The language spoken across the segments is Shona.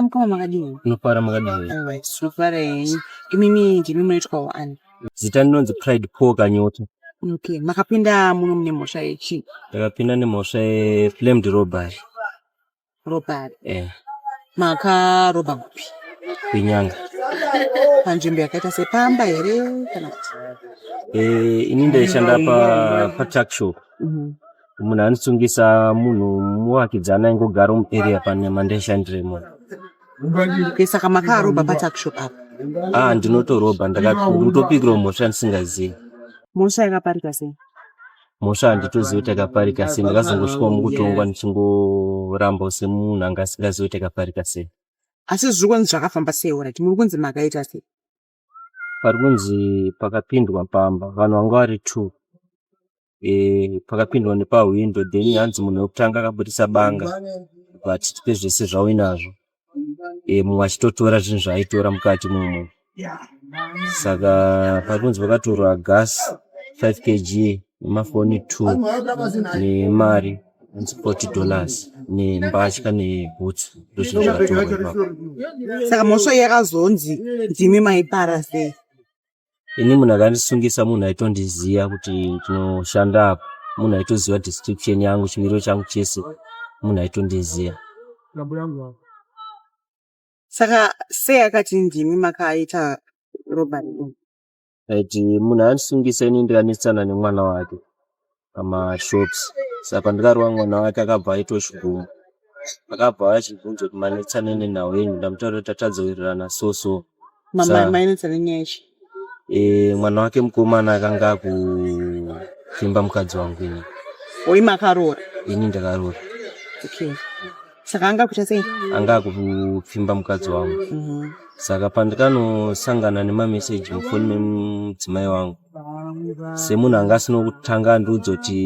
Mkoma makadini? Unofara makadini? Alright, unofara yenyu. Imimi ndimi munoitwa waani? Zita ndinonzi Pride Paul Kanyota. Okay, makapinda muno mune mhosva yechi? Takapinda nemhosva ye flamed robbery. Ropari. Eh. Maka roba kupi? Kunyanga. Panzvimbo yakaita sepamba here kana kuti? Eh, ini ndaishanda pa pa truck show. Mhm. Munhu anisungisa munhu muwakidzana ingogara mu area pane mandaishandire munhu. Okay, saka makaroba pa truck shop apa. Ah, ndinotoroba ndakatopikirwa mhosva ndisingazivi. Mhosva yakaparika sei? mhosva handitozivi kuti akaparika sei ndakazongosvikawo mukutongwa ndichingorambawo semunhu anga asingazivi kuti akaparika sei asi zviri kunzi zvakafamba sei orit muri kunzi makaita sei pari kunzi pakapindwa pamba vanhu vanga vari two e, pakapindwa nepahwindo then hanzi munhu wekutanga akabudisa banga but pezvese zvauinazvo e, mumwe achitotora zvinhu zvaaitora mukati mumo saka pakunzi vakatorwa gas 5 kg nemafoni 2 nemari 40 dollars nembatya nebhutsu ndozvinhu zvakatorwa saka mhosva yakazonzi ndimi maipara sei ini munhu akandisungisa munhu aitondiziva kuti ndinoshanda apa munhu aitoziva description yangu chimiriro changu chese munhu aitondiziva saka sei akati ndimi makaita robari ati munhu andisungisa ini ndikanetsana nemwana wake pamashops saka pandakarova mwana wake akabva aitwa chiguma akabva achibvunza kuti manetsana nenhau yenyu ndamutaura kuti tatadza kuwirirana so so mainetsana nyaya chi eh, mwana wake mukomana akanga akufimba mukadzi wangu ini oyi makaroora ini ndakaroora okay saka anga kuita sei anga akupfimba mukadzi wangu mhm. saka pandikanosangana nemameseji mufoni memudzimai wangu semunhu anga asina kutanga andiudza kuti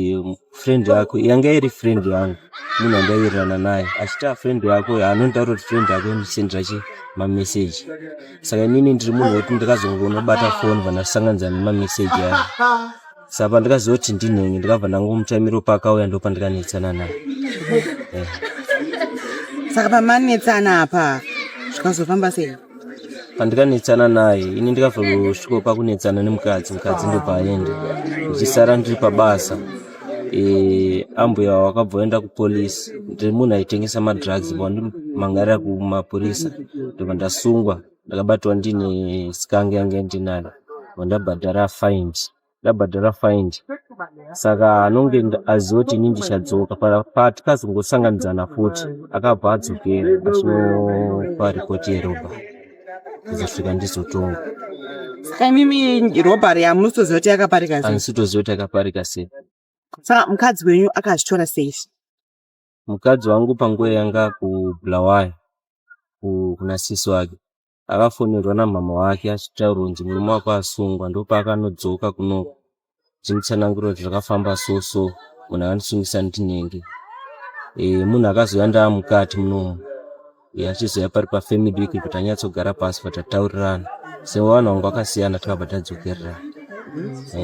friend yako yanga iri friend yangu munhu andaiwirirana naye achiti afriend yako anondidaura kuti friend yako inosendera chi mameseji saka inini ndiri munhu wekuti ndikazongonobata foni vanasanganidzana nemameseji aya sa pandikaziva kuti ndinhengi ndikabva ndangomuchaimiro paakauya ndo pandikanetsana naye eh. saka pamanetsana apa zvikazofamba sei pandikanetsana naye ini ndikazosviko pakunetsana nemukadzi mukadzi ndopaaende ndichisara ndiri pabasa eh, ambuya wakabvoenda kupolice ndiri munhu aitengesa madrugs pandiri mangarira kumapurisa ndobva ndasungwa ndakabatwa ndine skange yange ndinaro vandabhadhara find ndabhadhara find saka anonge aziva kuti ini ndichadzoka patikazongosanganidzana futi akabva adzokera achinopa ripoti yeroba kuzosvika ndizotonga saka imimi robhari yamunotoziva kuti yakaparika sei andisitoziva kuti yakaparika sei saka mukadzi wenyu akazvitora sei mukadzi wangu panguva yanga kubulawayo kuna sisi wake akafonerwa namama wake achitaura kunzi murume wako asungwa ndopaakanodzoka kuno zvinotsanangura kuti zvakafamba so so munhu akandisungisa ndinenge e, munhu akazouya ndaa mukati munomu e, achizouya pari pafamily week kuti anyatsogara pasi patataurirana sevanhu vangu akasiyana takabva tadzokererana e.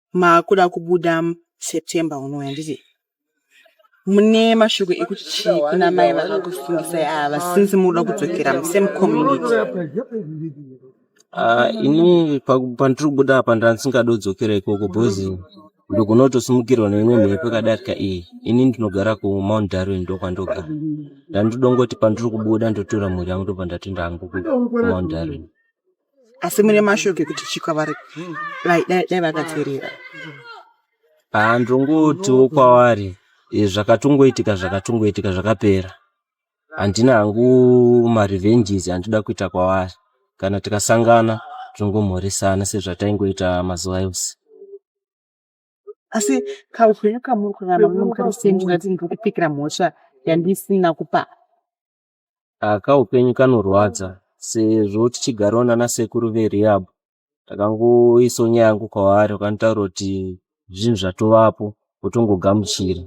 maakuda kubuda september unouya nditi mune mashoko ekuti chii kuna mai vakakusungisai ava since mukuda kudzokera musame community ah, ini pandiri kubuda apa ndandisingadi kudzokera ikoko bhozi ndikunotosimukirwa neimwe mhepo yakadarika iyi ini ndinogara kumount darwin ndokwandogara ndandidongoti pandiri kubuda ndotora mhuri yangu ndobva ndatoenda hangu kumount darwin asi mune mashoko ekuti chikwa vari dai vakaterera handongotiwo kwavari eh, zvakatongoitika zvakatongoitika zvakapera handina hangu marevenges andida kuita kwavari kana tikasangana tongomhoresana sezvataingoita mazuva yose asi kaupenyu kamuri kurarama muno mukarisendingati ndiri kupikira mhosva yandisina kupaa aka upenyu kanorwadza sezvo tichigarawo nana sekuru verehab takangoisawo nyaya yangu kwavari vakanitaura kuti zvinhu zvatovapo votongogamuchira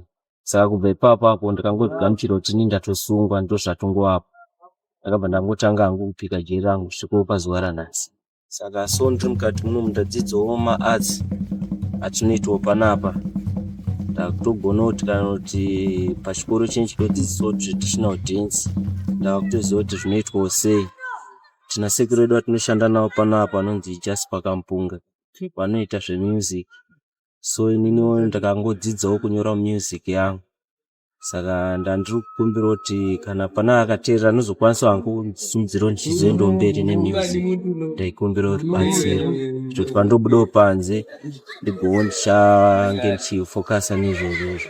saka kubva ipapo apo ndikangozvigamuchira kuti ini ndatosungwa ndozvatongovapo ndakabva ndangotanga hangu kupika jeri rangu svikowo pazuva ranhasi saka so ndiri mukati muno mundadzidzawo maarts atinoitwa panapa ndakutogona kuti kana kuti pachikoro chenyu chinodzidzisawo traditional dance ndakutoziva kuti zvinoitwawo sei tina sekuru vedu vatinoshanda navo panapa vanonzi just pakampunga vanoita zvemusic so ininiwo ndakangodzidzawo kunyora music yangu saka ndandiri kukumbira kuti kana pana akateerera anozokwanisa wangu kundisimudzira ndichizoenda mberi nemusic ndaikumbira rubatsiro kuti pandobudawo panze ndigowo ndichange ndichifocusa nezvozvozvo